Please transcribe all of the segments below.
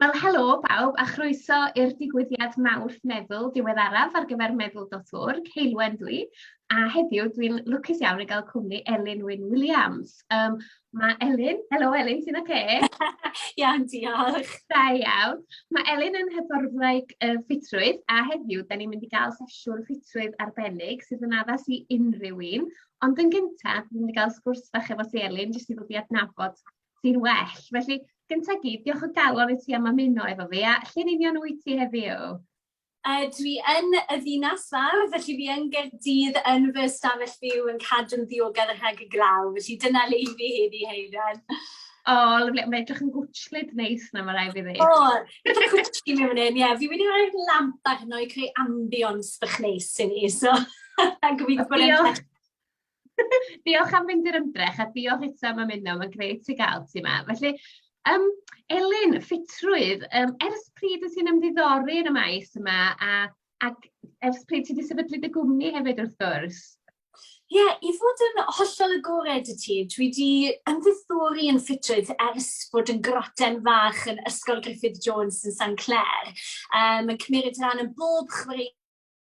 Wel helo bawb a chroeso i'r digwyddiad mawrth meddwl diweddaraf ar gyfer meddwl.org, Heulwen dw i a heddiw dwi'n lwcus iawn i gael cwmni Elin Wyn Williams. Yym ma' Elin, helo Elin ti'n oce? Iawn diolch. Da iawn. Ma' Elin yn hyfforddwraig yy ffitrwydd a heddiw 'dan ni'n mynd i ga'l sesiwn ffitrwydd arbennig sydd yn addas i unryw un ond yn gynta dwi myn' i ga'l sgwrs fach efo ti Elin jyst i ddod i adnabod ti'n well felly gynta i gyd diolch o galon i ti am ymuno efo fi a lle'n union wyt ti heddiw? Yy, dwi yn y ddinas fawr, felly fi yn Gaerdydd yn fy ystafell fyw yn cadw'n ddiogel rhag y glaw, felly dyna le i fi heddi Heiran. O, oh, lyfli. Mae'n edrych yn gwtllyd neis na, mae rai fi ddweud. O, oh, edrych yn gwtllyd mewn un, ie. Fi wedi rhoi'r lamp arno i creu ambience bych neis i ni, so... Gobeithio bod e'n... Diolch am fynd i'r ymdrech a diolch eto am ymuno ma'n grêt ti ga'l ti 'ma felly yym Elin ffitrwydd yym ers pryd wt ti'n ymddiddori yn y maes yma a ac ers pryd ti 'di sefydlu dy gwmni hefyd wrth gwrs? Ie i fod yn hollol agored i ti dwi 'di ymddiddori yn ffitrwydd ers bod yn groten fach yn Ysgol Griffith Jones yn San Clare yym yn cymeryd ran yn bob chwaraeon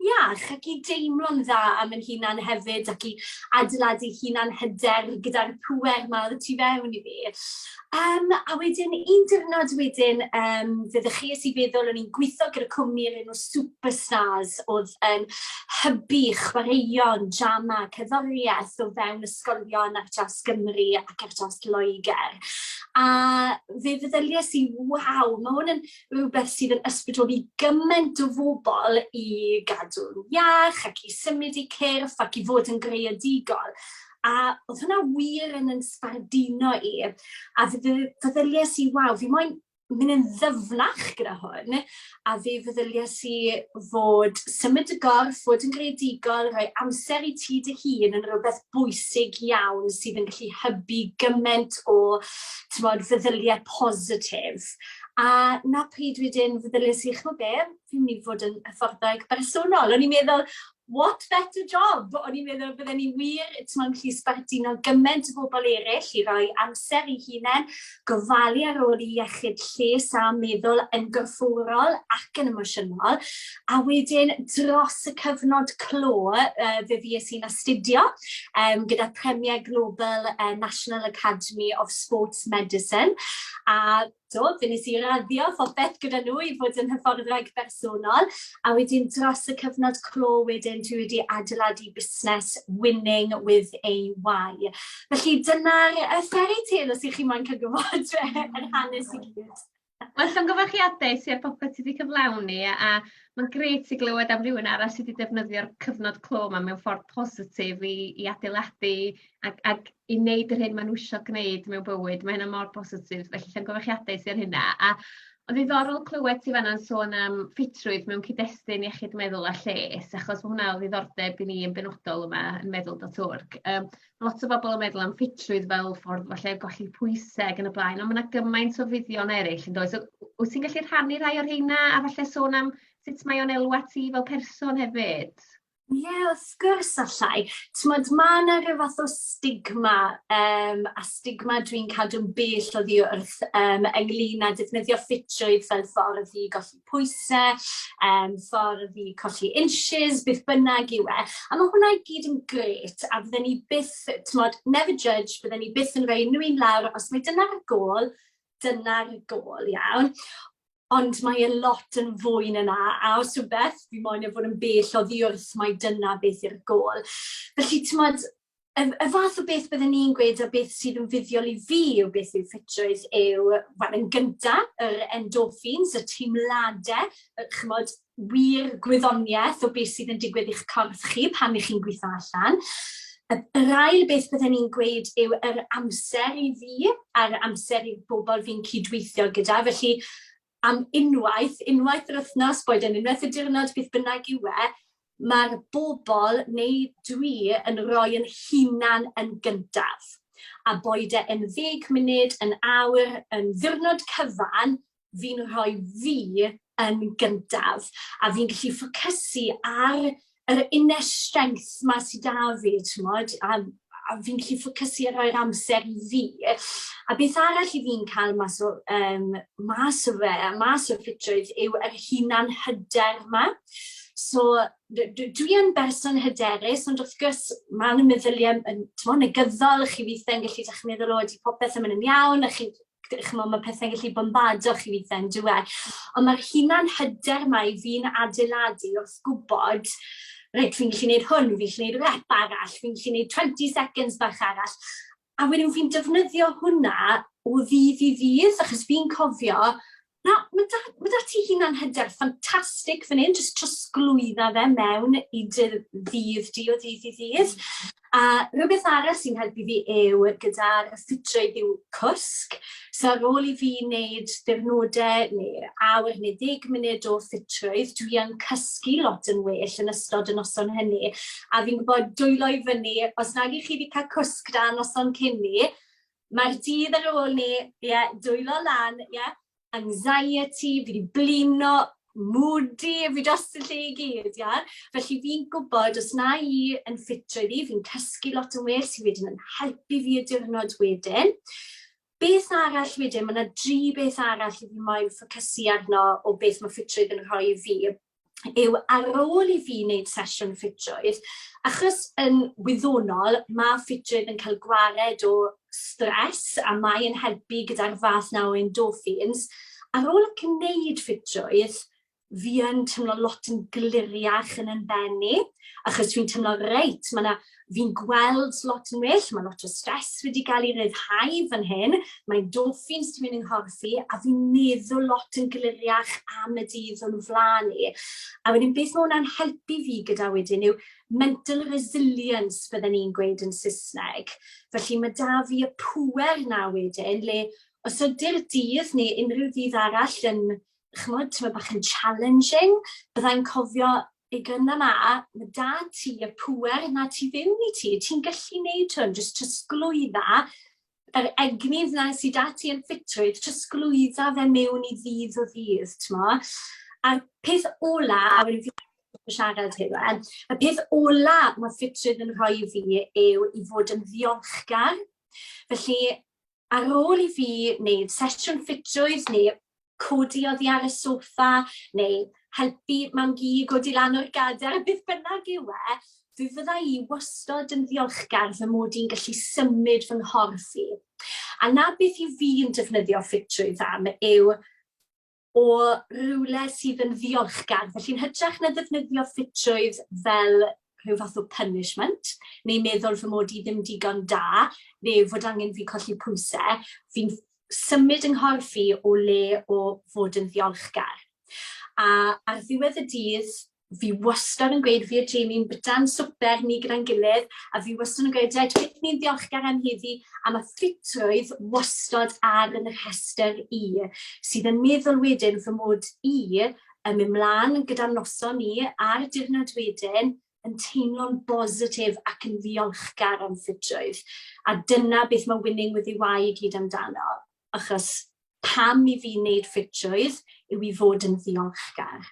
iach ac i deimlo'n dda am ein hunan hefyd ac i adeiladu hunan hyder gyda'r pŵer 'ma o'dd y tu fewn i fi. Yym a wedyn un diwrnod wedyn yym fe ddechreues i feddwl o'n i'n gwitho gyda cwmni o'r enw Superstars o'dd yn hybu chwaraeon, drama, cerddorieth o fewn ysgolion ar draws Gymru ac ar draws Lloegr a fe feddyliais i waw ma' 'wn yn rhywbeth sydd yn ysbrydoli gymaint o fobl i gadw'n iach ac i symud i cyrff ac i fod yn greadigol. A oedd hwnna wir yn yn sbardino i. A feddyliais i, waw, fi moyn mynd yn ddyfnach gyda hwn. A fe feddyliais i fod symud y gorff, fod yn greadigol, rhoi amser i ti dy hun yn rhywbeth bwysig iawn sydd yn gallu hybu gymaint o, ti'n bod, feddyliau positif. A na pryd wedyn feddyliais i, chimod be, fi'n mynd i fod yn hyfforddeg bersonol. O'n i'n meddwl, what better job? O'n i'n meddwl bydden ni wir, timod, yn gallu sbarduno gymaint o bobl eraill i roi amser i hunain, gofalu ar ôl i iechyd lles a meddwl yn gorfforol ac yn emosiynol, A wedyn dros y cyfnod clo, uh, fe fi i'n astudio um, gyda Premier Global uh, National Academy of Sports Medicine. A do, fe nes i raddio phopeth gyda nhw i fod yn hyfforddwraig bersonol. A wedyn dros y cyfnod clo wedyn dwi wedi adeiladu busnes Winning with AY. Felly dyna'r uh, fairy tale os ych chi'n moyn cael gwybod yr hanes i gyd. Wel llongyfarchiadau ti ar popeth ti 'di cyflawni a ma'n grêt i glywed am rywun arall sy 'di defnyddio'r cyfnod clo 'ma mewn ffordd positif i i adeiladu ag ag i neud yr hyn ma' n'w isio gneud mewn bywyd ma' hynna mor bositif felly llongyfarchiadau ti ar hynna a o'dd ddiddorol clywed ti fanna'n sôn am ffitrwydd mewn cyd-destun iechyd meddwl a lles achos ma' hwnna o ddiddordeb i ni yn benodol yma yn meddwl dot org yym lot o bobl yn meddwl am ffitrwydd fel ffordd falle o golli pwyse ag yn y blaen on' ma' 'na gymaint o fuddion eryll yndoes o- w- wyt ti'n gallu rhannu rhai o'r rheina a falle sôn am sut mae o'n elwa ti fel person hefyd? Ie wrth gwrs allai. T'mod ma' 'na rhyw fath o stigma yym a stigma dwi'n cadw'n bell oddi wrth yym ynglŷn â defnyddio ffitrwydd fel ffordd i golli pwysau, yym, ffordd i colli inches, beth bynnag yw e. A mae hwnna i gyd yn gret, a fydden ni byth, timod, never judge, bydden ni byth yn rhoi unrhyw un lawr, os mae dyna'r gôl, dyna'r gôl, iawn. Ond mae e lot yn fwy na 'na, a os rhywbeth, fi moyn e fod yn bell oddi wrth mai dyna beth yw'r gôl. Felly, timod, Y y fath o beth bydden i'n gweud o beth sydd yn fuddiol i fi yw beth yw ffitrwydd yw wel yn gynta yr endorphins y teimlade yy ch'mod wir gwyddonieth o beth sydd yn digwydd i'ch corff chi pan 'ych chi'n gwitho allan. Y yr ail beth bydden i'n gweud yw yr amser i fi a'r amser i bobl fi'n cydweithio gyda felly am unwaith, unwaith yr wythnos, boed e'n unwaith y diwrnod, beth bynnag yw e, mae'r bobl neu dwi yn rhoi yn hunan yn gyntaf. A boed e yn ddeg munud, yn awr, yn ddiwrnod cyfan, fi'n rhoi fi yn gyntaf. A fi'n gallu ffocysu ar yr inner strength 'ma sy 'da fi t'mod a a fi'n gallu ffocysu a rhoi'r amser i fi. A beth arall 'yf fi'n cael mas o yym mas o fe a mas o ffitrwydd yw yr hunan hyder 'ma. So d- d- dwi yn berson hyderus ond wrth gwrs ma' 'na meddylie yn t'mo' negyddol chi withe yn gallu dechre meddwl o ydi popeth yn myn' yn iawn a chi chimod, ma' pethe'n gallu bombado chi weithie on'd e? Ond ma'r hunan hyder 'ma i fi'n adeiladu wrth gwbod reit fi'n gallu neud hwn, fi'n gallu neud rep arall, fi'n gallu neud 20 seconds bach arall. A wedyn fi'n defnyddio hwnna o ddydd i ddydd achos fi'n cofio Na, ma' 'da ma' 'da ti hunan hyder ffantastig fan 'yn, jyst trosglwydda fe mewn i dy ddydd di o ddydd i ddydd. A rhywbeth arall sy'n helpu fi yw gyda'r ysbytyfeydd yw cwsg. So ar ôl i fi wneud diwrnodau neu awr neu ddeg munud o ffitrwydd, dwi yn cysgu lot yn well yn ystod y noson hynny. A fi'n gwybod, dwylo i fyny, os nag 'y chi 'di cael cwsg da noson cyn 'ny, Mae'r dydd ar ôl ni, ie, dwylo lan, ie, anxiety, fi wedi blino, moody, fi dros y lle i gyd, ie. Felly fi'n gwybod, os na i yn ffit ryddi, fi'n cysgu lot yn well, sydd wedyn yn helpu fi y diwrnod wedyn. Beth arall wedyn, mae yna dri beth arall i fi moyn ffocysu arno o beth mae ffitrwydd yn rhoi i fi. yw ar ôl i fi wneud sesiwn ffitrwydd, achos yn wyddonol mae ffitrwydd yn cael gwared o stress a mae e'n helpu gyda'r fath 'na o endorphins, ar ôl gwneud ffitrwydd fi yn teimlo lot yn gliriach yn 'y mhen i, achos fi'n teimlo reit ma' 'na fi'n gweld lot yn well, mae lot o stres wedi cael ei ryddhau fan hyn, mae endorphins ti'n mynd yng nghorff i, a fi'n meddwl lot yn gliriach am y dydd o'n flaen i. A wedyn beth mae hwnna'n helpu fi gyda wedyn yw mental resilience fydden ni'n gweud yn Saesneg. Felly mae da fi y pwer na wedyn le os ydy'r dydd neu unrhyw ddydd arall yn chymod, ti'n bach yn challenging, byddai'n cofio y gyna 'ma, ma' 'da ti y pŵer 'na tu fewn i ti, ti'n gallu neud hwn, jyst trosglwydda yr egni 'na sy 'da ti yn ffitrwydd, trosglwydda fe mewn i ddydd o ddydd, t'mod? A'r peth ola, a wedyn fi yn siarad Hywel, y peth ola ma' ffitrwydd yn rhoi i fi yw i fod yn ddiolchgar. Felly, Ar ôl i fi wneud sesiwn ffitrwydd neu codi oddi ar y soffa neu helpu Mam-gu i godi lan o'r gadair, beth bynnag yw e, fe fydda i wastod yn ddiolchgar fy mod i'n gallu symud fy nghorff i. A 'na beth 'y fi'n defnyddio ffitrwydd am yw o rywle sydd yn ddiolchgar, felly'n hytrach na ddefnyddio ffitrwydd fel rhyw fath o punishment, neu meddwl fy mod i ddim digon da, neu fod angen fi colli pwysau, fi'n symud yng nghorff i o le o fod yn ddiolchgar. A ar ddiwedd y dydd, fi wastad yn gweud fi a Jamie'n byta'n swper ni gyda'n gilydd, a fi wastad yn gweud reit beth ni'n ddiolchgar am heddi, a mae ffitrwydd wastad ar yn y rhestr i, sydd yn meddwl wedyn fy mod i yn mynd mlaen gyda noson ni a'r diwrnod wedyn yn teimlo'n bositif ac yn ddiolchgar am ffitrwydd. A dyna beth mae winning with your why i gyd amdano, achos pam i fi wneud ffitrwydd yw i fod yn ddiolchgar.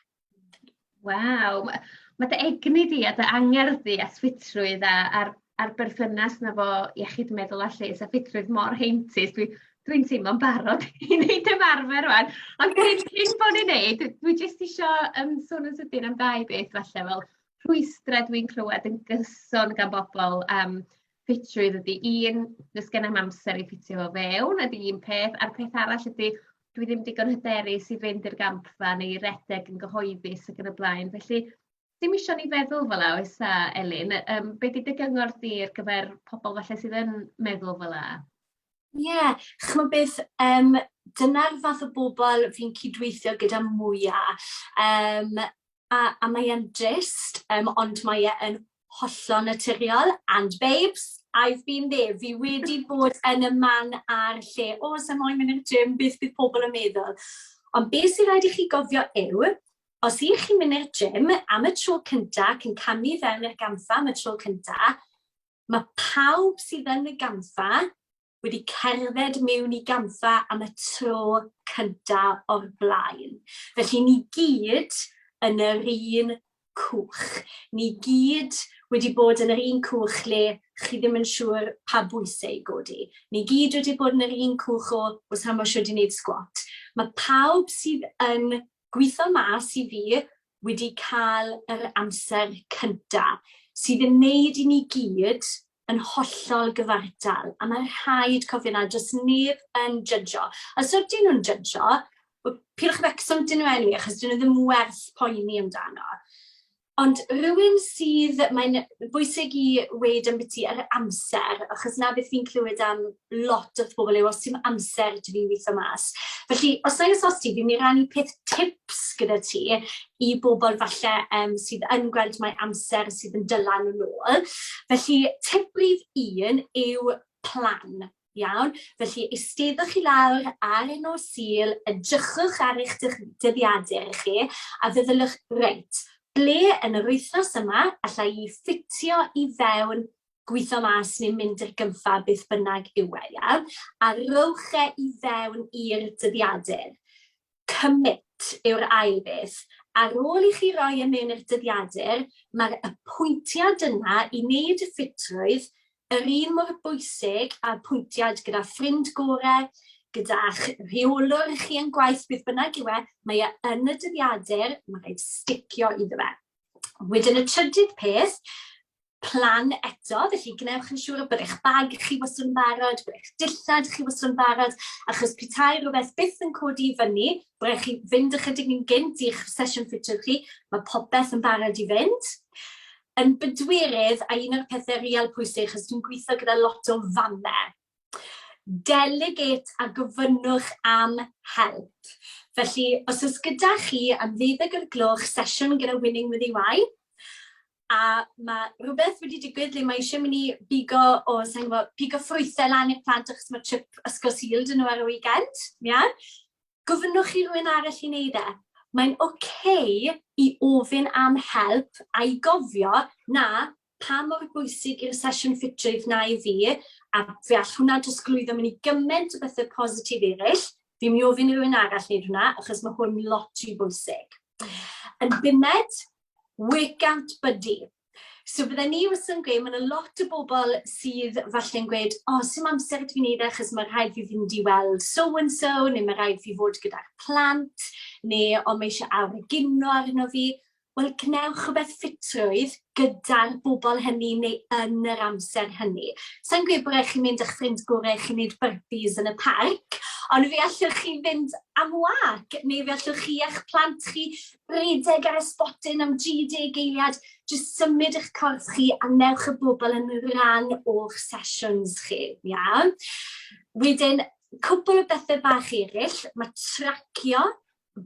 Waw, ma' ma' dy egni di a dy angerdd di at ffitrwydd a a'r a'r berthynas 'na 'fo iechyd meddwl a lles a ffitrwydd mor heintus dwi dwi'n teimlo'n barod i neud ymarfer rŵan ond cyn cyn bo' ni'n neud dwi jyst isio yym sôn yn sydyn am ddau beth falle fel rhwystre dwi'n clywed yn gyson gan bobol am ffitrwydd ydi un do's genai'm amser i ffitio fo fewn ydi un peth a'r peth arall ydi dwi ddim digon hyderus i fynd i'r gampfa neu redeg yn gyhoeddus ac yn y blaen felly ddim isio ni feddwl fel 'a oes a Elin yym be' 'di dy gyngor di ar gyfer pobol falle sydd yn meddwl fel 'a? Ie yeah, ch'mo' beth yym dyna'r fath o bobol fi'n cydweithio gyda mwya yym a a mae e'n drist yym ond mae e yn Hollol naturiol, and babes, I've been there. Fi wedi bod yn y man a'r lle, o, oh, sy'n moyn mynd i'r gym, beth bydd pobl yn meddwl. Ond beth sy'n rhaid i chi gofio yw, os i chi'n mynd i'r gym am y tro cynta, cyn camu fewn i'r gamfa am y tro cynta, mae pawb sydd yn y gamfa wedi cerdded miwn i gampfa am y tro cynta o'r blaen. Felly ni gyd yn yr un cwch. Ni gyd wedi bod yn yr un cwch le chi ddim yn siŵr pa bwysau i godi. Ni gyd wedi bod yn yr un cwch o os am o siwr di wneud sgwat. Mae pawb sydd yn gweithio mas i fi wedi cael yr amser cyntaf sydd yn neud i ni gyd yn hollol gyfartal, a mae'n rhaid cofio 'na, does neb yn jydgo. Os ydyn nhw'n jydgo, wel, peidiwch â becso am dyn nhw eniwe, achos dyn nhw ddim werth poeni amdano. Ond rhywun sydd... mae'n bwysig i weud ambiti yr amser, achos 'na beth fi'n clywed am lot wrth bobl yw os ti'm amser ti fi'n gweithio mas. Felly, os na os ti, fi'n mynd i rannu peth tips gyda ti i bobl falle um, sydd yn gweld mae amser sydd yn dylan yn ôl. Felly, tip brif un yw plan. Iawn, felly eisteddwch chi lawr ar un o sil, edrychwch ar eich dyddiadur i chi, a feddyliwch, reit, ble yn yr wythnos yma allai i ffitio i fewn gwitho mas neu mynd i'r gynffaf, beth bynnag yw e, ia? A rhowch e i fewn i'r dyddiadur. Commit yw'r ail beth. Ar ôl i chi roi e mewn i'r dyddiadur, mae'r apwyntiad yna i wneud y ffitrwydd yr un mor bwysig a pwyntiad gyda ffrind gorau, gyda'ch rheolwr chi yn gwaith, beth bynnag yw e, mae e yn y dyddiadur, mae rhaid sticio iddo fe. Wedyn y trydydd peth, plan eto, felly gwnewch yn siŵr bod eich bag chi wastad yn barod, bod eich dillad chi wastad yn barod, achos petai rhywbeth byth yn codi i fyny, bod eich chi fynd ychydig yn gynt i'ch sesiwn ffitio chi, mae popeth yn barod i fynd. Yn bydwirydd, a un o'r pethau real pwysig, achos dwi'n gweithio gyda lot o famau, Delegate a gofynnwch am help. Felly, os oes gyda chi am ddeuddeg o'r gloch sesiwn gyda Winning with EY, a mae rhywbeth wedi digwydd lle mae eisiau mynd i bigo o, sa'n gwybod, pigo ffrwythau lan i'r plant achos mae trip ysgol syl dyn nhw ar y weekend, ia? Yeah? Gofynnwch i rhywun arall i wneud e. Mae'n oce okay i ofyn am help a'i gofio na pa mor bwysig yw'r sesiwn ffitio i f'nau fi, a fe all hwnna drosglwyddo mewn i gyment o bethau positif eraill, fi'n mynd i ofyn i rywun arall wneud hwnna, achos mae hwn lot rhy bwysig. Yn bumed, workout buddy. So bydde ni wastad yn gweud, mae yna lot o bobl sydd falle'n gweud, o, oh, sy'n amser ydw i'n ei ddechrau, achos mae rhaid fi fynd i weld so-and-so, neu mae rhaid fi fod gyda'r plant, neu o, mae eisiau awr y gino arno fi. Wel, gwnewch rhywbeth ffitrwydd gyda'r bobl hynny neu yn yr amser hynny. Sa i'n gweud bod raid chi mynd â'ch ffrind gorau i chi wneud burpees yn y parc, ond fe allwch chi fynd am wâc, neu fe allwch chi a'ch plant chi redeg ar y sbotyn am 30 eiliad, jyst symud eich corff chi a wnewch y bobl yn rhan o'ch sesiwns chi, ia? Wedyn, cwpl o bethau bach eraill, mae tracio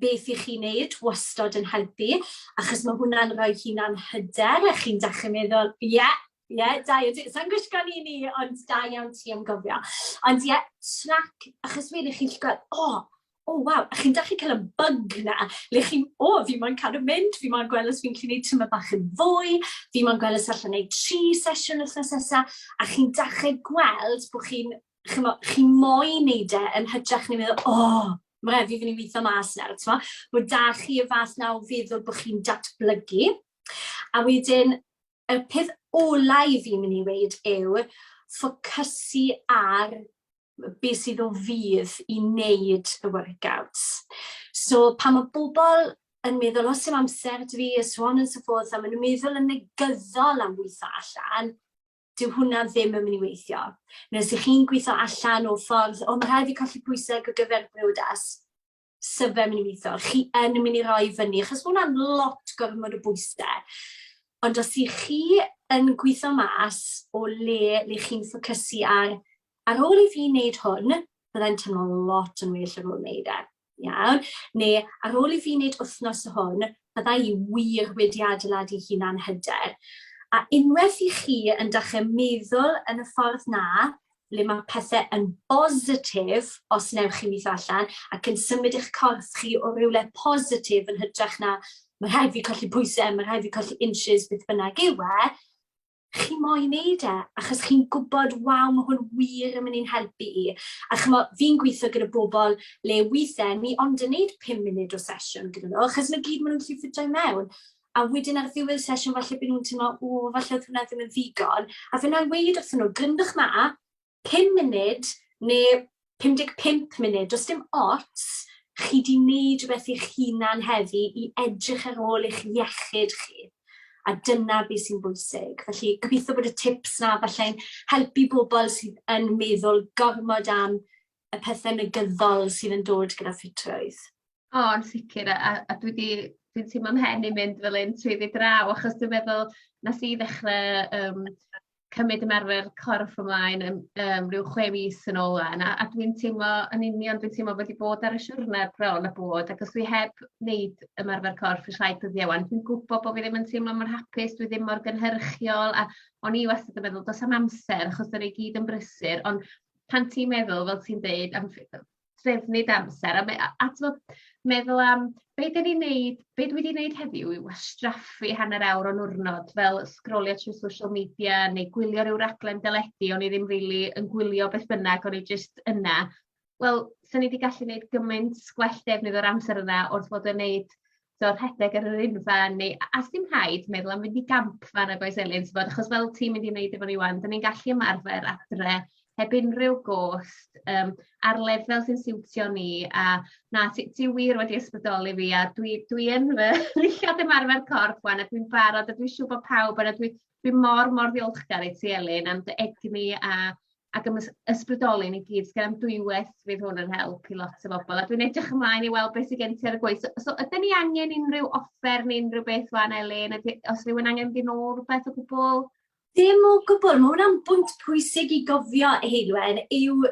beth i chi wneud wastod yn helpu, achos mae hwnna'n rhoi hunan hyder, a chi'n dechrau meddwl, ie, yeah, ie, yeah, da iawn ti. Sa'n gwisgo ni ni, ond da iawn ti am gofio. Ond ie, yeah, trac, achos wedyn chi'n gweld, o, oh, o oh, waw, a chi'n dechrau cael y bug na, le chi'n, o, oh, fi moyn cadw mynd, fi moyn gweld os fi'n gallu gwneud tyma bach yn fwy, fi moyn gweld os allan gwneud tri sesiwn wythnos nesaf, a chi'n dechrau gweld bod chi'n chimo, chi moyn wneud e yn hytrach na meddwl, "O, ma' raid fi fyn' i witho mas nawr", t'mo'? Bo' 'da chi y fath 'na o feddwl bo' chi'n datblygu. A wedyn, y peth ola i fi myn' i weud yw ffocysu ar be' sydd o fudd i wneud y workouts. So pan ma' bobl yn meddwl, "O, s'im amser 'da fi", a so on and so forth, a ma' nw'n meddwl yn negyddol am witho allan, dyw hwnna ddim yn mynd i weithio. Neu os ych chi'n gweithio allan o ffordd, o mae rhaid fi colli pwysau ar gyfer briodas, sy'n fe'n mynd i weithio. Chi yn mynd i roi fyny, achos mae hwnna'n lot gormod o bwysau. Ond os ych chi yn gweithio mas o le le chi'n ffocysu ar, ar ôl i fi wneud hwn, byddai'n teimlo lot yn well ar ôl wneud e. Iawn, neu ar ôl i fi wneud wythnos o hwn, bydda i wir wedi adeiladu'n hunan hyder. A unwaith i chi yn dechrau meddwl yn y ffordd 'na, le mae pethe yn bositif os newch chi weithio allan, ac yn symud eich corff chi o rywle positif yn hytrach na ma' rhaid fi colli pwyse, ma' rhaid fi colli inches, beth bynnag yw e, chi moyn neud e, achos chi'n gwybod, waw, mae hwn wir yn mynd i'n helpu i. A chymo, fi'n gweithio gyda bobl le weithiau ni ond yn neud 5 munud o sesiwn gyda nhw, achos mae gyd maen nhw'n gallu ffitio i mewn. A wedyn ar ddiwedd sesiwn, falle byd nhw'n teimlo, o, falle oedd hwnna ddim yn ddigon. A fe na i weid wrth nhw, gryndwch ma, 5 munud neu 55 munud, does dim ots, chi 'di wneud rhywbeth i'ch hunan heddi i edrych ar ôl eich iechyd chi, a dyna be sy'n bwysig. Felly gobeithio bod y tips 'na falle'n helpu bobl sydd yn meddwl gormod am y pethe negyddol sydd yn dod gyda ffitrwydd. O yn sicir a a a dwi 'di dwi'n teimlo 'mhen i'n mynd fel 'yn swyddi draw achos dwi'n meddwl nes i ddechre yym cymryd ymarfer corff ymlaen yn yym ryw chwe mis yn ôl 'wan a a dwi'n teimlo yn union dwi'n teimlo wedi bod ar y siwrne bron a bod ac os dwi heb neud ymarfer corff y rhai dyddie 'wan dwi'n gwbo bo' fi ddim yn teimlo mor hapus dwi ddim mor gynhyrchiol a o'n i wastad yn meddwl do's 'am amser achos 'dan ni gyd yn brysur ond pan ti'n meddwl fel ti'n deud am ff- yy trefnu dy amser a me- a a t'mod meddwl am be' 'dan ni'n neud be' dwi 'di neud heddiw yw wastraffu hanner awr o'n niwrnod fel sgrolio trwy social media neu gwylio ryw raglen deledu o'n i ddim rili yn gwylio beth bynnag o'n i jyst yna wel 'san ni 'di gallu neud gymaint gwell defnydd o'r amser yna wrth fod yn neud t'o' rhedeg ar yr unfan neu a- a sdim rhaid meddwl am fynd i gamp fan 'na does Elin t'bod achos fel ti'n mynd i neud efo ni 'wan 'dan ni'n gallu ymarfer adre heb unryw gost yym ar lefel sy'n siwtio ni a na ti ti wir wedi ysbrydoli fi a dwi dwi yn fy ddillad ymarfer corff 'wan a dwi'n barod a dwi siŵr bo' pawb yna dwi dwi mor mor ddiolchgar i ti Elin am dy egni a ac yn ysbrydoli ni gyd. Sgan am dwywaith fydd hwn yn help i lot o bobl a dwi'n edrych ymlaen i weld beth sydd gen ti ar y gweill. So, so ydy ni angen unrhyw offer neu unrhyw beth fan Elin? Ydy, os rhywun angen mynd i'n ôl rhywbeth o gwbl? Dim o gwbl, mae hwnna'n bwynt pwysig i gofio, Heilwen, yw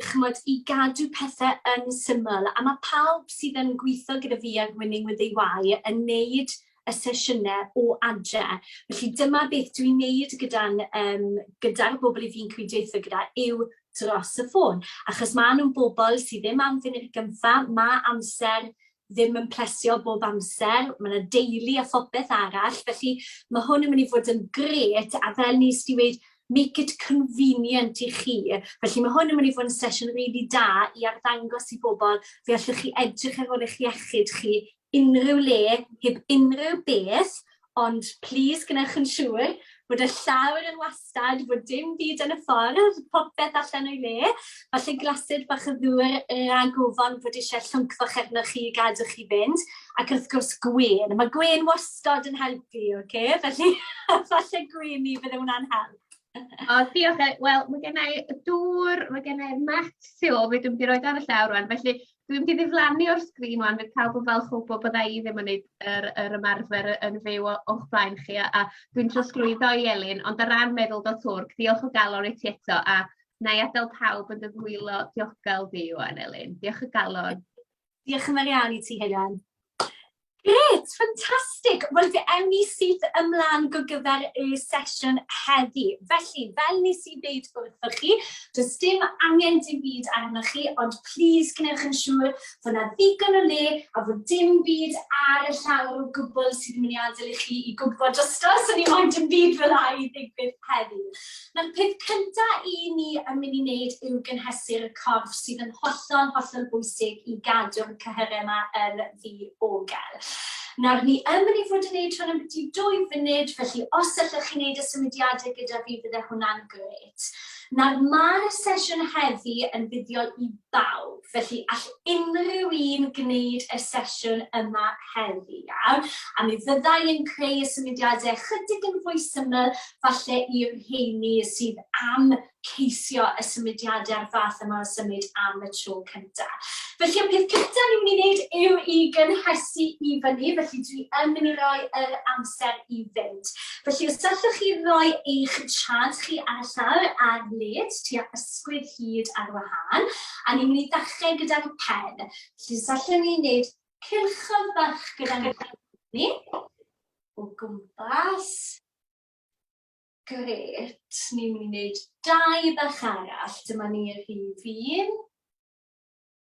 chymod, i gadw pethau yn syml. A mae pawb sydd yn gweithio gyda fi ar Winning with AY yn neud y sesiynau o adre. Felly dyma beth dwi'n wneud gyda'n yym gyda'r bobl 'y fi'n cydweithio gyda yw dros y ffôn, achos maen nhw'n bobl sydd ddim am funud gynta, mae amser ddim yn plesio bob amser, mae yna deulu a phopeth arall, felly mae hwn yn mynd i fod yn gret, a fel nes di weud, make it convenient i chi. Felly mae hwn yn mynd i fod yn sesiwn rili really da i arddangos i bobl fe allwch chi edrych ar ôl eich iechyd chi unrhyw le, heb unrhyw beth, ond plis gwnewch yn siŵr bod y llawr yn wastad, bod dim byd yn y ffordd, popeth allan o'i le. Falle glasur bach o ddŵr rhag ofon fod eisiau llwnc fach arnoch chi i gadw chi fynd, ac wrth gwrs gwên. Mae gwên wastad yn helpu, ocê? Felly falle gwên i, bydde hwnna'n help. O diolch yy wel ma' gennai y dŵr ma' gennai y met tu ôl fi dwi mynd i roid o ar y llawr rŵan felly dwi mynd i ddiflannu o'r sgrîn ŵan fydd pawb yn falch o wbo bydda i ddim yn neud yr yr ymarfer yy yn fyw o- o'ch blaen chi a a dwi'n trosglwyddo i Elin ond o ran meddwl do twrc diolch o galon i ti eto a 'nai adel pawb yn dy ddwylo diogel di ŵan Elin. Diolch o galon. Diolch yn fawr iawn i ti, Helen. Gret, ffantastig! Wel, fe ewn ni syth ymlaen go gyfer y sesiwn heddi. Felly, fel nes i ddeud wrthoch chi, does dim angen dim byd arnoch chi, ond plis gwnewch yn siŵr fod yna ddigon o le a fod dim byd ar y llawr o gwbl sydd yn mynd i adael i chi i gwmpo drosto, so ni moyn dim byd fel 'na i ddigwydd heddi. Na'r peth cynta i ni yn mynd i wneud yw gynhesu'r corff sydd yn hollol, hollol bwysig i gadw'r cyhyrau yma yn ddiogel. Nawr, ni yn mynd i fod yn gwneud hwn am biti dwy funud, felly os allwch chi wneud y symudiadau gyda fi, bydde hwnna'n gret. Nawr, mae'r sesiwn heddi yn fuddiol i bawb, felly all unrhyw un gwneud y sesiwn yma heddi, iawn? A mi fydda i yn creu y symudiadau ychydig yn fwy syml, falle i'r rheini sydd am ceisio y symudiadau'r fath yma o symud am y tro cyntaf. Felly, y peth cyntaf ni'n mynd i wneud yw i gynhesu i fyny, felly dwi yn mynd i roi yr amser i fynd. Felly, os allwch chi roi eich siarad chi ar y llawr ar led tua ysgwydd hyd ar wahân, a ni'n mynd i ddechrau gyda'r pen. Felly, os allwn ni wneud cilchodd bach gyda'n pen ni, o gwmpas. Gret, ni'n mynd i wneud dau bach arall, dyma ni rhif un.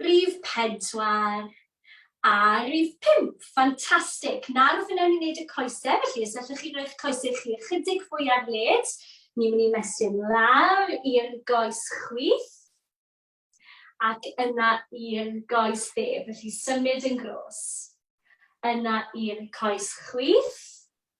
Rhif pedwar a rhif pump. Ffantastig. Nawr fe wnawn ni wneud y coesau, felly os allwch chi roi'ch coesau chi ychydig fwy ar led, ni'n mynd i mesur lawr i'r goes chwith ac yna i'r goes dde, felly symud yn gros. Yna i'r coes chwith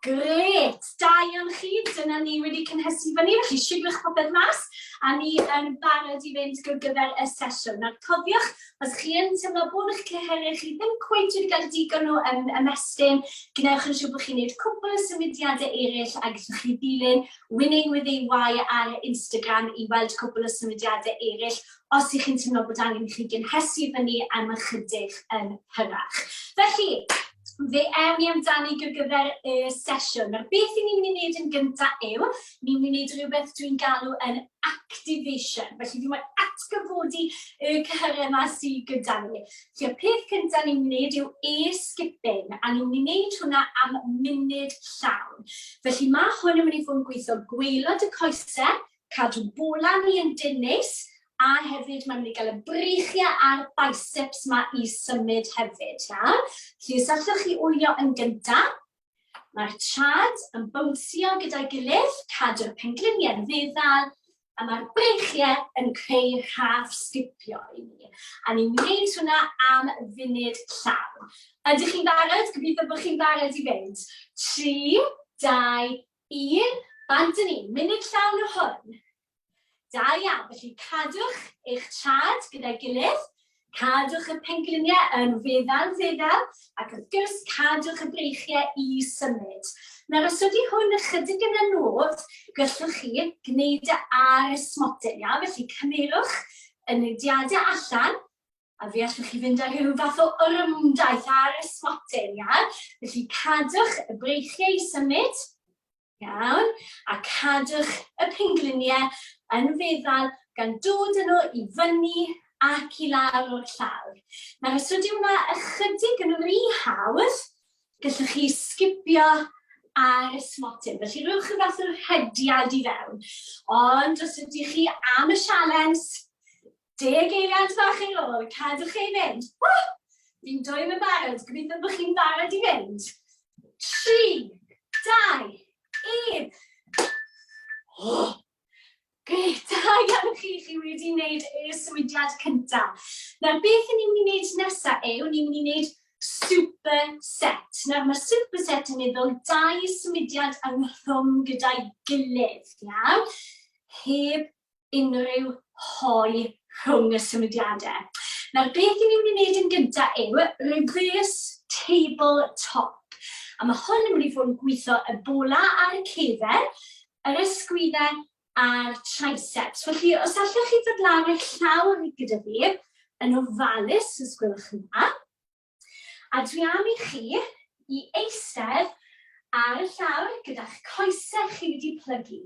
Grêt! Da iawn chi. Dyna ni wedi cynhesu fyny, felly sibrwch popeth mas, a ni yn barod i fynd gyr gyfer y sesiwn. Nawr cofiwch, os chi yn teimlo bod eich cyhyrau chi ddim cweit wedi cael digon o um, ymestyn, gwnewch yn siŵr bod chi'n gwneud cwpl o symudiadau eraill a gallwch chi ddilyn Winning with EY ar Instagram i weld cwpl o symudiadau eraill os ych chi'n teimlo bod angen i chi gynhesu fyny am ychydig yn hyrach. Felly, fe ewn ni amdani gyda gyfer y sesiwn. Nawr, beth i ni'n mynd i wneud yn gyntaf yw, ni'n mynd i wneud rhywbeth dwi'n galw yn activation. Felly, fi moyn atgyfodi y cyhyrau yma sydd gyda ni. Felly, y peth cyntaf ni'n mynd i wneud yw e-skipping, a ni'n mynd i wneud hwnna am munud llawn. Felly, mae hwn yn mynd i fod yn gweithio gweilod y coesau, cadw bula ni yn dinus a hefyd mae'n mynd i gael y breichiau a'r biceps ma i symud hefyd, ia? Felly os allwch chi wylio yn gyntaf, mae'r trad yn bownsio gyda'i gilydd, cadw'r pengliniau yn feddal, a mae'r breichiau yn creu rhaff sgipio i ni. A ni'n gwneud hwnna am funud llawn. Ydych chi'n barod? Gobeithio bod chi'n barod i fynd. 3, 2, Yn bardu ni, munud llawn yw hwn. Da iawn, felly cadwch eich traed gyda'i gilydd, cadwch y pengliniau yn feddal feddal, ac wrth gwrs cadwch y breichiau i symud. Nawr os ydy hwn ychydig yn anodd, gallwch chi gwneud e ar y smotyn, iawn? Felly cymerwch y newidiadau allan, A fe allwch chi fynd â rhyw fath o orymdaith ar y swatyn, iawn? Felly cadwch y breichiau i symud, iawn? A cadwch y pengliniau yn feddal gan dod yn nhw i fyny ac i lawr o'r llawr. Nawr, os ydy hwnna ychydig yn rhy hawdd, gallwch chi sgipio ar y smotyn. Felly rhywch y fath o'r hediad i fewn. Ond os ydych chi am y sialens, Deg eiliad fach ar ôl, cadwch ei fynd. Wah! Fi'n dwyn yn barod, gobeithio bod chi'n barod i fynd. Tri, dau, un. Oh! Gret, da iawn chi, chi wedi wneud y swydiad cyntaf. Nawr, beth ni'n mynd i wneud nesaf yw, ni'n mynd i wneud superset. Nawr, mae superset yn meddwl dau swydiad yng nghrwm gyda'i gilydd, iawn? Heb unrhyw hoe rhwng y symudiadau. Nawr, beth i ni'n mynd i wneud yn gyntaf yw reverse table top. A mae hwn yn mynd i fod yn gweithio y bola ar y cefer, yr ysgwyddau a'r triceps. Felly, os allwch chi ddod lan eich llaw gyda fi, yn ofalus, os gwelwch yn dda. A dwi am i chi i eistedd ar y llawr gyda'ch coesau chi wedi plygu.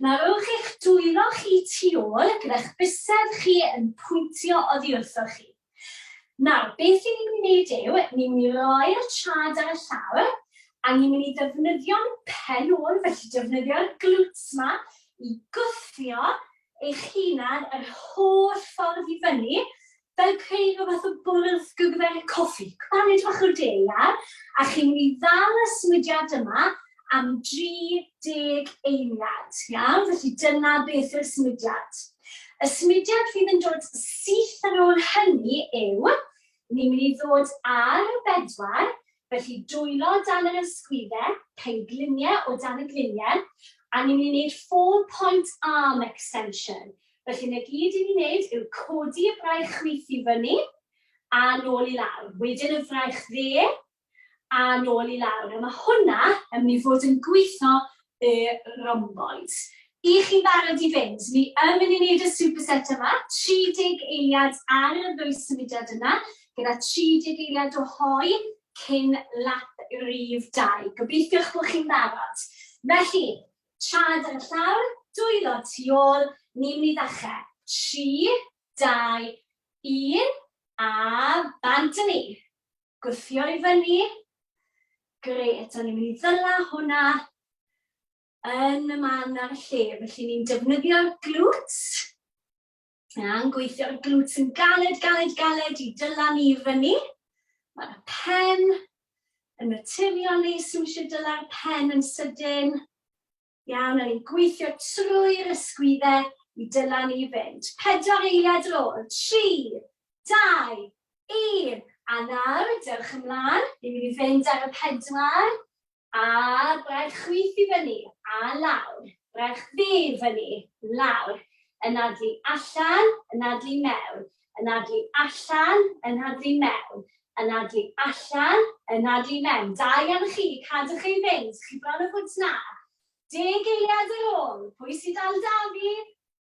Na rowch eich dwylo chi tu ôl gyda'ch bysedd chi yn pwyntio oddi wrthoch chi. Nawr, beth i ni'n mynd i wneud yw, ni'n mynd i roi'r trad ar y llawr, a ni'n mynd i ddefnyddio'n pen ôl, felly defnyddio'r glwts ma i gwthio eich hunan yr holl ffordd i fyny Fel creu rhyw fath o bwrdd gyfwerth coffi, paned bach o de, ia? A chi'n mynd i ddal y symudiad yma am 30 eiliad, iawn? Felly dyna beth yw'r symudiad. Y symudiad fydd yn dod syth ar ôl hynny yw, ni'n mynd i ddod ar y bedwar, Felly dwylo dan yr ysgwydde, penglinie o dan y glinie, a ni'n mynd i wneud four point arm extension. Felly 'na gyd i ni wneud yw codi y braich chwith i fyny a nôl i lawr, wedyn y fraich dde a nôl i lawr, a ma' hwnna yn mynd i fod yn gwitho y rhomboid. Y'ch chi'n barod i fynd? Ni yn mynd i wneud y superset yma, 30 eiliad ar y ddwy symudiad yna, gyda 30 eiliad o hoe cyn lap rif dau. Gobeithiwch bod chi'n barod. Felly, traed ar y llawr, dwylo tu ôl, ni'n mynd i ddechrau. Tri, dau, un, a bant â ni! gwthio i fyny. Gret, a ni'n mynd i ddyla hwnna yn y man ar y lle. Felly ni'n defnyddio'r glwt, a'n gweithio'r glwt yn galed, galed, galed i dyla ni i fyny. Mae'r pen yn naturiol nes sy'n eisiau dyla'r pen yn sydyn. Iawn, a ni'n gweithio trwy'r ysgwyddau i dylannu i fynd. Pedwar eiliad ar ôl. Tri, dau, un. A nawr, dewch ymlaen. Ni'n mynd i fynd ar y pedwar. A braich chwith i fyny, a lawr. Braich ddu i fyny, lawr. Anadlu allan, anadlu mewn. Anadlu allan, anadlu mewn. Anadlu allan, anadlu mewn. Da iawn chi, cadwch ei fynd, chi bron o fwt 'na. Deg eiliad ar ôl, pwy sy'n dal 'da fi?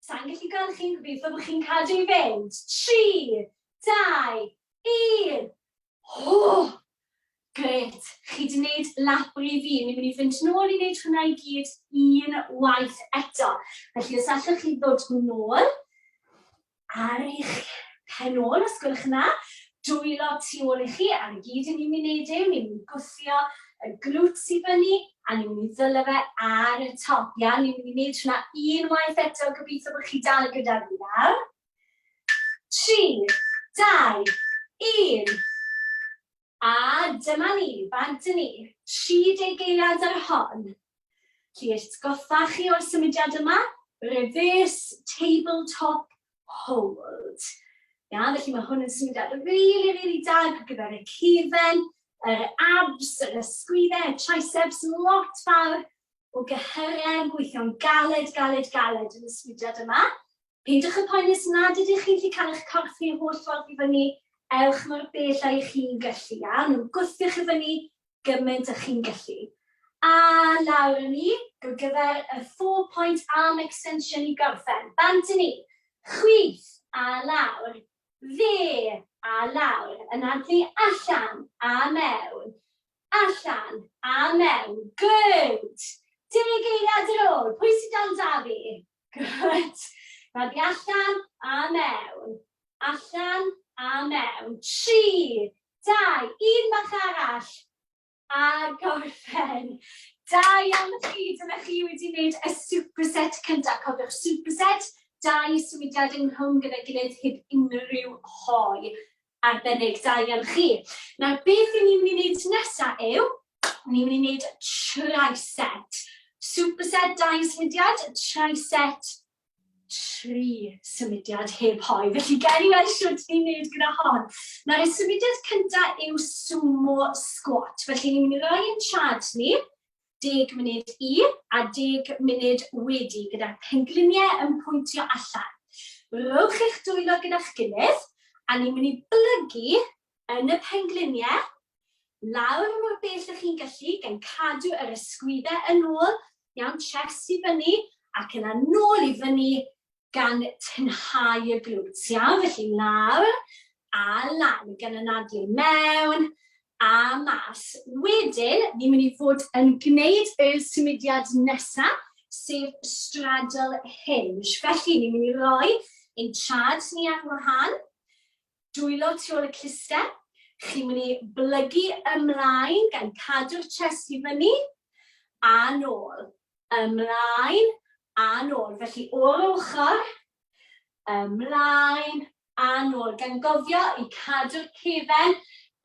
Sai'n gallu gweld chi, gobeithio bod chi'n cadw i fynd. Tri, dau, un. Hoo! Grêt, chi 'di 'neud lap i fi, ni'n mynd i fynd nôl i 'neud hwnna i gyd un waith eto. Felly os allwch chi ddod nôl, ar eich pen ôl os gwelwch yn dda, dwylo tu ôl i chi ar y gyd i ni'n wneud yw ni'n mynd i gwthio y glutes i fyny a ni'n mynd i ddylo fe ar y top, iawn? Ni'n mynd i wneud hwnna unwaith eto, gobeithio bod chi dal gyda fi nawr. Tri, dau, un. A dyma ni, bant â ni, tri deg eiliad ar y hon. Lli eist goffa chi o'r symudiad yma? Reverse tabletop hold. Ia, felly mae hwn yn symudiad rili, rili da ar gyfer y cufen, yr abs, yr ysgwyddau, y triceps, lot fawr o gyhyrau yn gweithio'n galed, galed, galed yn y symudiad yma. Peidiwch â phoeni os nad ydych chi'n gallu cael eich corff i'r holl ffordd i fyny, ewch mor bell â'ch chi'n gallu, iawn, gwthiwch i fyny gymaint â'ch chi'n gallu. A lawr â ni, ar gyfer y four point arm extension i gorffen, bant â ni, chwith, a lawr, dde, a lawr, yn addu allan, a mewn, Allan! A mewn! Good! Deg eiliad ar ôl! Pwy sydd dal 'da fi? Good! Rhag fi allan! A mewn! Allan! A mewn! Tri! Dau! Un bach arall! A gorffen! Da iawn chi! Dyna chi wedi gwneud y superset cyntaf. Cofiwch, superset, dau symudiad ynghlwm gyda'i gilydd heb unrhyw hoe. Arbennig, da iawn chi. Nawr beth i ni'n mynd i wneud nesa yw, ni'n mynd i wneud tri-set. Superset, dau symudiad, tri-set, tri symudiad heb hoi. Felly, gael ni weld siwt ni'n wneud gyda hon. Nawr, y symudiad cyntaf yw sumo squat. Felly, ni'n mynd i roi yn chad ni, deg munud i a deg munud wedi gyda'r pengliniau yn pwyntio allan. Rhowch eich dwylo gyda'ch gilydd a ni'n mynd i blygu yn y pengliniau lawr mor bell ych chi'n gallu gan cadw yr ysgwyddau yn ôl, iawn, chest i fyny ac yna nôl i fyny gan tynhau y glwt. Iawn, felly lawr a lan, gan anadlu mewn a mas. Wedyn, ni'n mynd i fod yn gwneud y symudiad nesaf, sef straddle hinge. Felly, ni'n mynd i roi ein traed ni ar wahân, dwylo tu ôl y cluster, chi'n mynd i blygu ymlaen gan cadw'r chest i fyny a nôl. ymlaen a nôl. Felly o'r ochr, ymlaen a nôl. Gan gofio i cadw'r cefen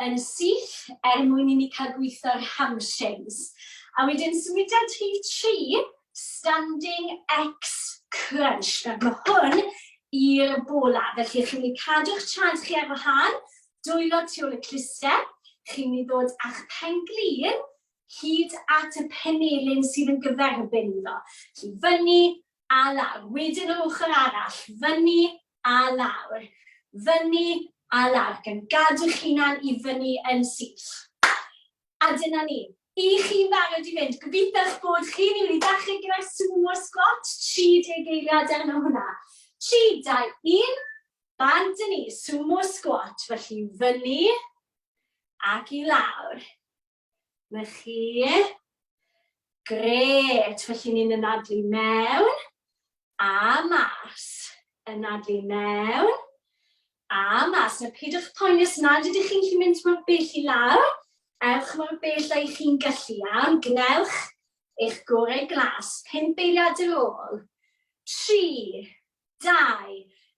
yn syth er mwyn i ni cael gweithio'r hamstrings. A wedyn symudiad rhif tri, standing X crunch. Nawr mae hwn i'r bola, felly chi'n mynd i cadw'ch traed chi ar wahân, dwylo tu ôl y clustiau, chi'n mynd i ddod â'ch pen-glin hyd at y penelin sydd yn gyferbyn iddo. Felly fyny a lawr, wedyn yr ochr arall, fyny a lawr, fyny a lawr, gan gadw'ch hunan i fyny yn syth. A dyna ni. I chi'n barod i fynd, gobeithio'ch bod chi'n mynd i ddechrau gyda'r sumo squat, 30 eiliad arno hwnna. 3, 2, 1, bant yn ni, sumo squat, felly fyny ac i lawr. Na chi. Gret, felly ni'n ynadlu mewn a mas. Ynadlu mewn a mas. A pidwch poeni os nad ydych chi'n gallu mynd mor bell i lawr, ewch mor bell â chi'n gallu, iawn? Gwnewch eich gorau glas, pump eiliad ar ôl. Tri, dau,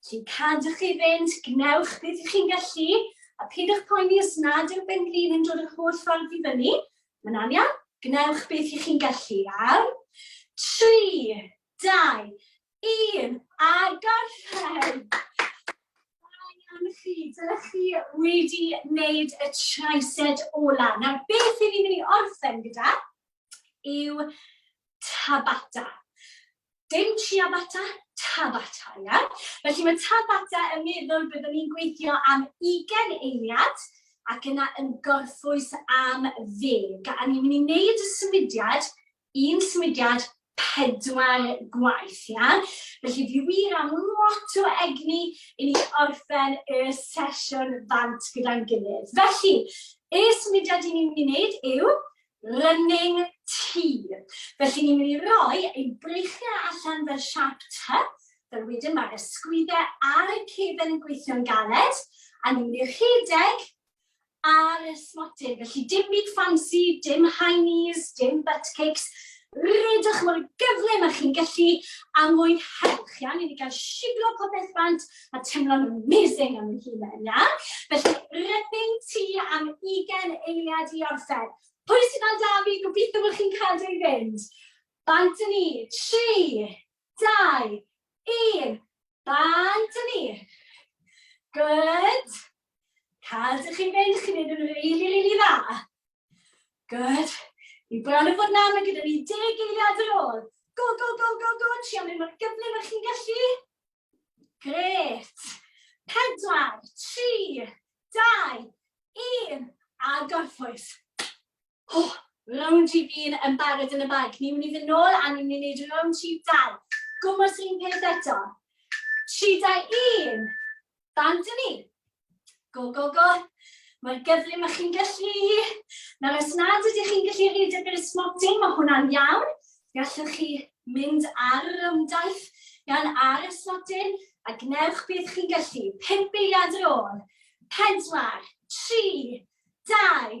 Sy'n cadw chi fynd, gwnewch beth ych chi'n gallu, a peidiwch poeni os nad yw'r benglin yn dod yr holl ffordd i fyny. Mae'n anian, gwnewch beth ych chi'n gallu am. 3, 2, 1, a gorffen! Ryan chi, dyna chi wedi wneud y tricep ola. Nawr, beth i ni'n mynd i orffen gyda yw tabata. Dim ciabatta, Tabata, ie? Felly mae Tabata yn meddwl byddwn ni'n gweithio am ugain eiliad ac yna yn gorffwys am ddeg. A ni'n mynd i wneud y symudiad, un symudiad, pedwar gwaith, ie? Felly fi wir am lot o egni i ni orffen y sesiwn bant gyda'n gilydd. Felly, y symudiad i ni'n mynd i wneud yw running tea. Felly ni'n mynd i roi ein breichiau allan fel siap ty, fel wedyn mae'r ysgwyddau ar y cefn yn gweithio'n galed, a ni'n mynd i rhedeg ar y smotyn. Felly dim byd ffansi, dim high knees, dim butt kicks, redwch mor gyflym â chi'n gallu a mwynhewch, iawn? Ni mynd i gael shiglo popeth bant, a teimlo'n amazing am fy hun yna. Felly, rydyn ti am ugen eiliad i orffen. Pwy sydd fel da fi, gobeithio bod chi'n cadw i fynd. Bant yn ni, tri, dau, un, bant yn ni. Good. Cadw chi fynd, chi'n mynd yn rili, really, rili really dda. Good. Ni bron yn fod na, mae gyda ni deg eiliad ar ôl. Go, go, go, go, go, trio mynd mor gyflym ych chi'n gallu. Grêt! Pedwar, tri, dau, un, a gorffwys. O, round rhif un yn barod yn y bag. Ni'n mynd i fynd nôl a ni'n mynd i wneud round rhif dau. Gwmwys un peth eto. Tri, dau, un. Bant ni. Go, go, go. Mae'r gyflym ych chi'n gallu. Nawr, os nad ydych chi'n gallu rhaid ar gyda'r smotyn, mae hwnna'n iawn. Gallwch chi mynd ar yr ymdaith gan ar y smotyn a gwnewch beth chi'n gallu. Pimp eiliad ar ôl. Pedwar, tri, dau,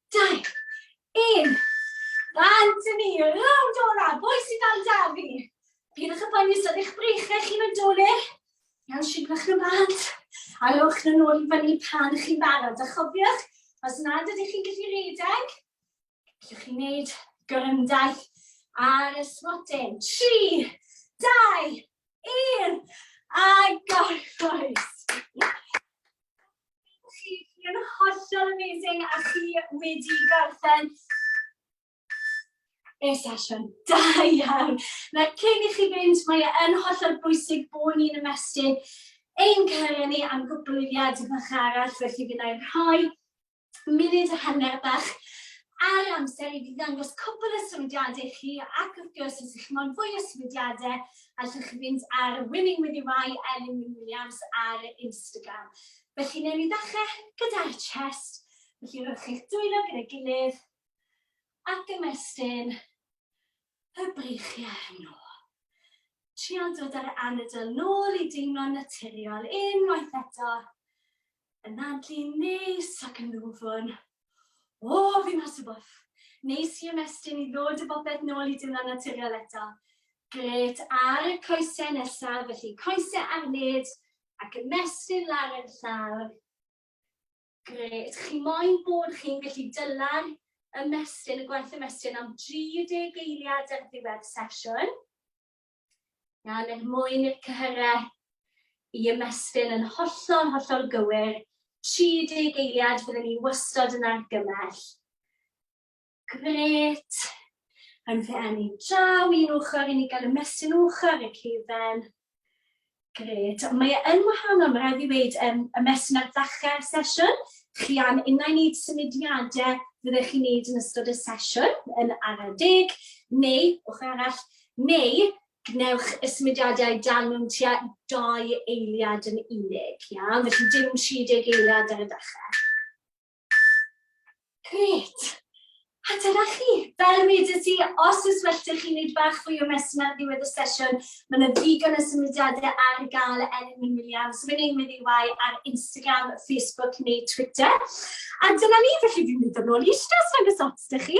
Dau. Un. Bant yn ni, rownd ola, boi sy'n dal da fi. Pidwch y poeni os ydych breichiau chi'n mynd dolir. Iawn, signwch nhw bant. A rowch nhw'n ôl i fyny pan ych chi'n barod. A chofiwch, os nad ydych chi'n gallu rhedeg, gallwch chi wneud gorymdaith ar y smotin. Tri, dau, un, a gorffwys. Chi yn hollol amazing a chi wedi gorffen y sesiwn. Da iawn. Na, cyn i chi fynd, mae e yn hollol bwysig bod ni'n ymestyn ein cyrraedd ni am gwblhyddiad bach arall, felly fi'n ei rhoi munud a hanner bach ar amser i fi ddangos cwbl o symudiadau chi ac wrth gwrs os ych chi'n moyn fwy o symudiadau allwch chi fynd ar Winning With Your Eye, Elin Wyn Williams, ar Instagram. Felly, newn ni ddechrau gyda'r chest. Felly, rhowch chi'ch dwylo gyda'i gilydd ac ymestyn y breichiau hwnnw. Trial dod ar anadl nôl i deimlo'n naturiol unwaith eto. Yn anadlu neis ac yn ddwfwn. O, fi mas o bwff. Neis i ymestyn i ddod y bopeth nôl i dimlo'n naturiol eto. Gret ar y coesau nesaf, felly coesau ar led ac ymestyn lawr yn llawr. Gret, chi moyn bod chi'n gallu dyla'r ymestyn, y gwaith ymestyn am 30 eiliad ar ddiwedd sesiwn. Nawr, er mwyn i'r cyhyrau i ymestyn yn hollol, hollol gywir, 30 eiliad fyddwn ni wastad yn argymell. Gret. Rhaid fe enni'n draw un ochr i ni gael ymestyn ochr y ceifen. Grêt. Mae e yn wahanol, mae rhaid fi weud, yym, y mesyn ar ddechrau'r sesiwn. Chi am unai wneud symudiadau fyddech chi'n wneud yn ystod y sesiwn, yn araf deg, neu, ochr arall, neu gwnewch y symudiadau dan mewn tua dau eiliad yn unig, iawn? Felly dim 30 eiliad ar y dechrau. Grêt! A dyna chi! Fel wedes i, os oes well 'da chi wneud bach fwy o messing ar ddiwedd y sesiwn, mae yna ddigon o symudiadau ar gael er mwyn William. So fe'n ein with EY ar Instagram, Facebook neu Twitter. A dyna ni, felly fi'n mynd yn ôl i eistedd os nag oes ots 'da chi.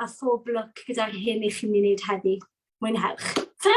a phob lwc gyda'r hyn i chi'n mynd i wneud heddi. Mwynhewch. Ta!